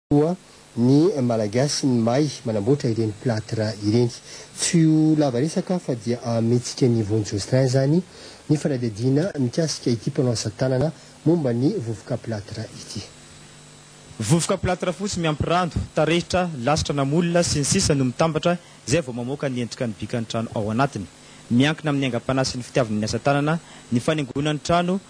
koa ny Malagasy ny mahay manamboatra ireny plâtre ireny. Tsy ho lava resaka fa dia ahamihetsika an'i Yvon Jocelyn izany ny fanadihadiana mikasika ity mpanao asa tanana momba ny vovoka plâtre ity. Vovoka plâtre fotsy miampy rano, tarehitra, lasitra na moule sy ny sisa no mitambatra izay vao mamoaka ny endrika ny bikan'ny trano ao anatiny. Miankina amin'ny aingam-panahy sy ny fitiavana ny asa tanana ny fanaingoana ny trano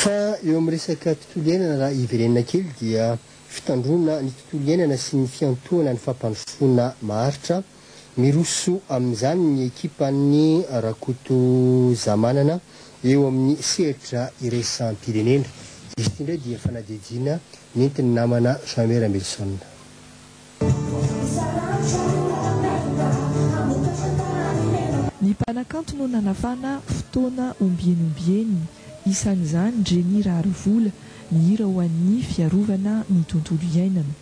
Fa eo amin'ny resaka tontolo iainana raha hiverenana kely dia fitandroana ny tontolo iainana sy ny fiantohana ny fampandrosoana maharitra, miroso amin'izany ny ekipan'i Rakotozamanana eo amin'ny sehatra iraisam-pirenena. Izy ity indray dia fanadihadiana nentin'ny namana Jean Mera Milson. Ny mpanakanto no nanafana fotoana ombieny ombieny, isan'izany Jenny Raharivola, nihira ho an'ny fiarovana ny tontolo iainana.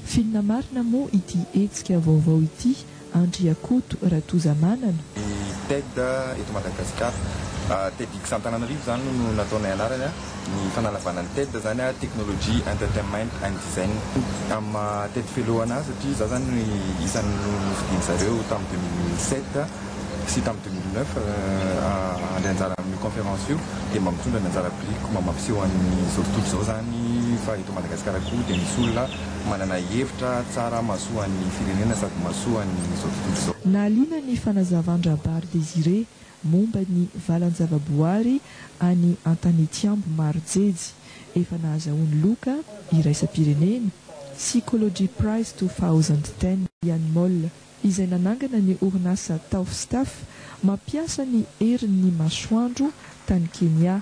Filina marina moa ity hetsika vaovao ity Andriakoto Ratozamanana. Ny TED eto Madagasikara. Tedx Antananarivo izany no nataonay anarany. Ny fanalavana ny TED izany, Technology, Entertainment and Design. Amin'ny maha TED Fellow an'ahy, satria izaho izany no isan'ny nofidian-dry zareo tamin'ny deux mille sept sy tamin'ny deux mille neuf handray anjara amin'io conférence io, dia mba mitondra ny anjara birikiko mba mampiseho an'izao tontolo izao izany fa eto Madagasikara koa dia misy olona. manana hevitra tsara mahasoa ny firenena sady mahasoa an'izao tontolo izao. Nahaliana ny fanazavan-dRabary Désiré momba ny valan-javaboary any Antanitsiambo maro jejy efa nahazahoany loka iraisam-pirenena, Seacology Prize two thousand ten, Ian Moll, izay nanangana ny orinasa Taufstaff mampiasa ny herin'ny masoandro tany Kenya.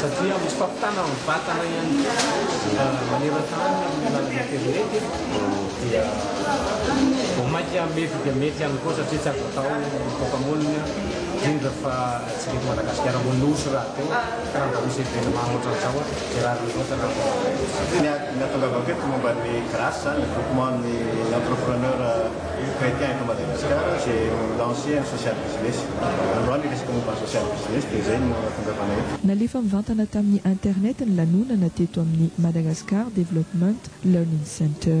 satria misy fampitana amin'ny vatana ihany koa maneran-tany amin'ny alalan'ny aterineto dia vao mainka mety dia mety ihany koa satria tsy azo atao ny toaka monina indrindra fa tsy mety Madagasikara moa nosy rahateo ka raha mba misy événement ohatran'izao a dia rariny loatra raha vao Ny ahatongavako eto momba an'i Grace zany, groupement an'ny entrepreneur. Chrétien eto Madagasikara izay mi-lancer ny social business. Androany resaka momba ny social business dia izay no tongavana eto. Nalefa mivantana tamin'ny internet ny lanonana teto amin'ny Madagascar Development Learning Center.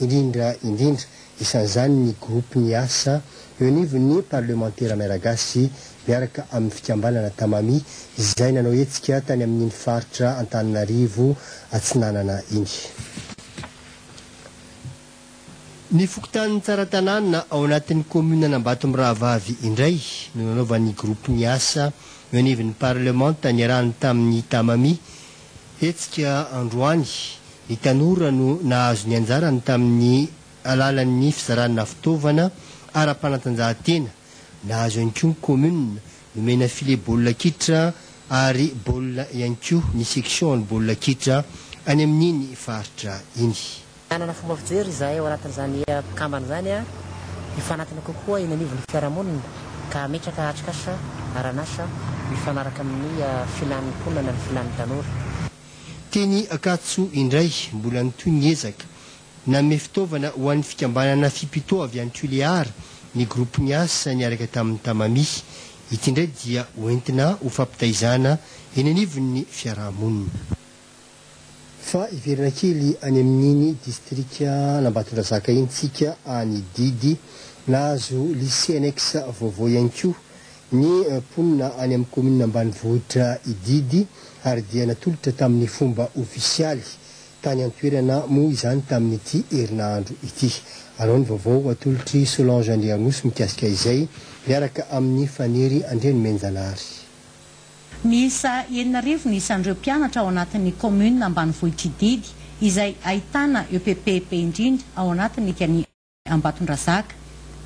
indrindra indrindra, isan'izany ny gropy miasa eo anivon'ny parlemantera Miaragasy miaraka amin'ny fikambanana Tamami izay nanao hetsika tany amin'iny faritra Antananarivo Atsinanana iny. Ny fokontanin'i Tsaratanàna ao anatin'ny kaominan'Ambato Mirahavavy indray no nanaovan'ny gropy miasa eo anivon'ny parlemanta niarahany tamin'ny Tamami, Hetsika androany, ny tanora no nahazo ny anjarany tamin'ny alalan'ny fizarana fitaovana ara-panatanjahantena. Nahazo ihany koa ny kaominina, nomena file baolina kitra ary baolina ihany koa ny section ny baolina kitra any amin'iny faritra iny. Hanana fomba fijery izahay ao anatin'izany mpikambana izany hifanatona kokoa eny anivon'ny fiarahamonina ka hametraka atrikasa aran'asa mifanaraka amin'ny filàn'ny mponina na ny filàn'ny tanora. Teny Ankatso indray, mbola nitohy ny ezaka. Nanome fitaovana ho an'ny fikambanana Fipito avy any Tuléar ny gropy niasa niaraka tamin'ny Tamami. Ity indray dia hoentina ho fampitaizana eny anivon'ny fiarahamonina. Fa hiverina kely any amin'iny distrikan'Ambatondrazaka iny tsika any Didy. Nahazo Lycée annexe vaovao ihany koa ny mponina any amin'ny kaominina ambanivohitra i Didy ary dia natolotra tamin'ny fomba ofisialy tany an-toerana moa izany tamin'ity herinandro ity. Anao ny vaovao atolotr'i Solange Andriaroso mikasika izay miaraka amin'i Faniry Andrianomenjanahary. Miisa enina arivo ny isan'ireo mpianatra ao anatin'ny kaominina ambanivohitr'i Didy izay ahitana EPP be indrindra ao anatin'ny kan' i Ambatondrazaka.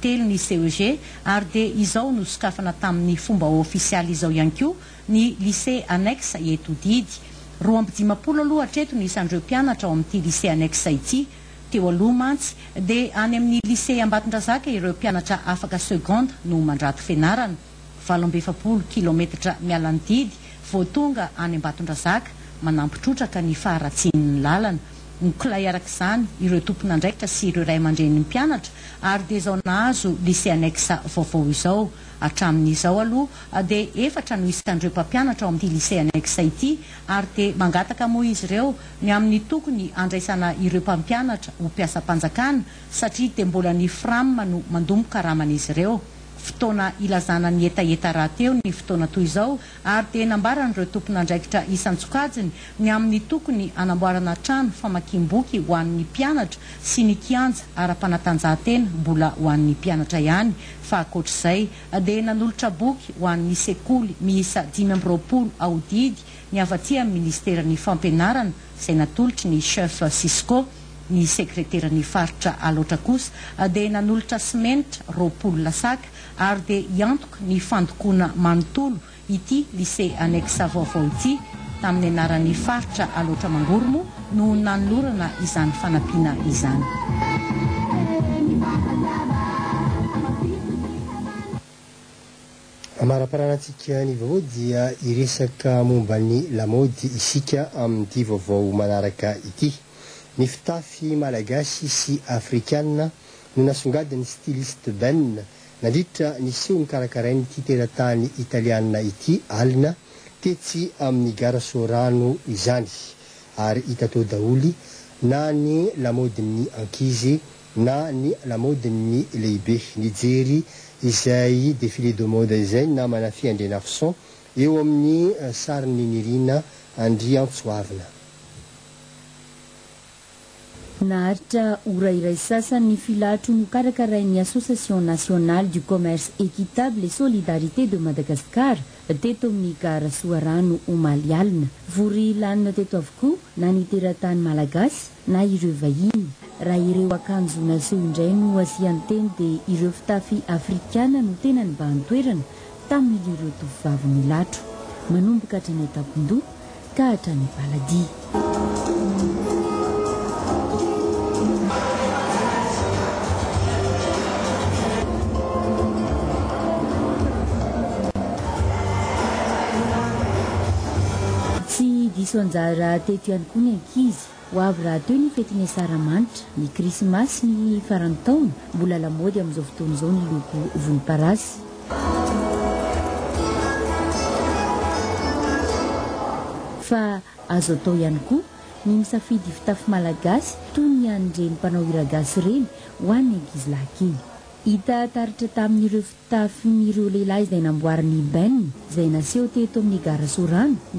Telo ny CEG ary dia izao nosokafana tamin'ny fomba ofisialy izao ihany koa ny Lycée annexe eto Didy. Roa amby dimampolo aloha hatreto ny isan'ireo mpianatra ao amin'ity Lycée annexe ity. Teo aloha mantsy dia any amin'ny Lycée Ambatondrazaka ireo mpianatra afaka seconde no mandrato fianarana. valo amby efapolo kilaometatra miala ny didy vao tonga any Ambatondrazaka, manampy trotraka ny faharatsian'ny lalana. Mikolay araka izany ireo tompon'andraikitra sy ireo ray aman-drenin'ny mpianatra ary dia izao nahazo Lycée Annexe vaovao izao. Hatramin'izao aloha dia efatra no isan'ireo mpampianatra ao amin'ity Lycée Annexe ity ary dia mangataka moa izy ireo ny amin'ny tokony handraisana ireo mpampianatra ho mpiasam-panjakana satria dia mbola ny Fram no mandombo karaman'izy ireo. fotoana ilazana ny hetaheta rahateo ny fotoana toy izao ary dia nambaran'ireo tompon'andraikitra isan-tsokajiny ny amin'ny tokony hanamboarana trano famakiam-boky ho an'ny mpianatra sy ny kianja ara-panatanjahantena mbola ho an'ny mpianatra ihany fa ankoatr'izay dia nanolotra boky ho an'ny sekoly miisa dimy amby roapolo aho didy ny avy aty amin'ny ministeran'ny fampianarana izay natolotry ny chef Cisco Ny sekreteran'ny faritra Alaotra kosa dia nanolotra simenitra roapolo lasaka ary dia hiantoka ny fandokoana manontolo ity Lycée annexe vaovao ity. Tamin'ny anaran'ny faritra Alaotra Mangoro moa no nanolorana izany fanampiana izany. Amariparanantsika ny vaovao dia hiresaka momba ny lamaody isika amin'ity vaovao manaraka ity. Ny fitafy malagasy sy afrikana no nasongadin'ny styliste Ben nandritra ny seho nokarakarain'ity teratany italiana ity alina tetsy amin'ny gara Soarano izany ary hita tao daholo na ny lamaodin'ny ankizy na ny lamaodin'ny lehibe. Nijery izay défilé de mode izay ny namana Fy Andrianarison eo amin'ny sarin'i Niryna Andriantsoavina. Naharitra ora iray sasany ny filatro nokarakarain'ny Association Nationale du Commerce Equitable et Solidarité de Madagascar teto amin'ny Gara Soarano omaly alina. Vory lanona teto avokoa na ny teratany malagasy na ireo vahiny. Raha ireo akanjo naseho indray no asian-teny dia ireo fitafy afrikana no tena nibahan-toerana tamin'ireo tovovavy nilatro. Manomboka hatrany an-tampon-doha Mpitahatra ny Baladi. Tsy diso anjara teto ihany koa ny ankizy. Ho avy rahateo ny fetin'ny Asaramanitra, ny Krismasy, ny faran'ny taona. Mbola lamaody amin'izao fotoana izao ny loko volomparasy. Fa azo atao ihany koa ny misafidy fitafy malagasy toy ny an'ireny mpanao hiragasy ireny ho an'ny ankizilahy kely. Hita taratra tamin'ireo fitafin'ireo lehilahy izay namboarin'i Ben, izay naseho teto amin'ny Gara Sorano,